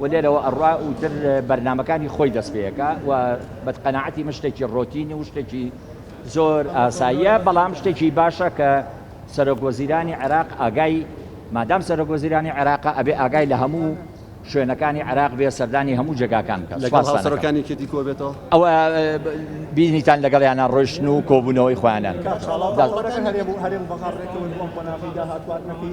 و لێرەوە ئەڕا و تر بەرنامەکانی خۆی دەست پێەکا و بەقەناعەتی من شتێکی ڕۆتین و شتێکی زۆر ئاساییە بەڵام شتێکی باشە کە سەرۆک وەزیرانی عێراق ئاگای مادام سەرۆک وەزیرانی عێراقە ئەبێ ئاگای لە هەموو شوێنەکانی عێراق بێ سەردانی هەموو جێگاکان بکات لەگەڵ سوپاستان دەکەم. هاوسەرەکانی کێتی کۆبێتەوە؟ ئەوە بینیتان لەگەڵیانا ڕۆیشتن و کۆبوونەوەی خۆیانیان کاک کرد. چالاکوانەکان هەرێم و هەرێم بەغاڕ ڕێکەون بۆ ئەم قۆناغەی داهاتوو هاتنەکەی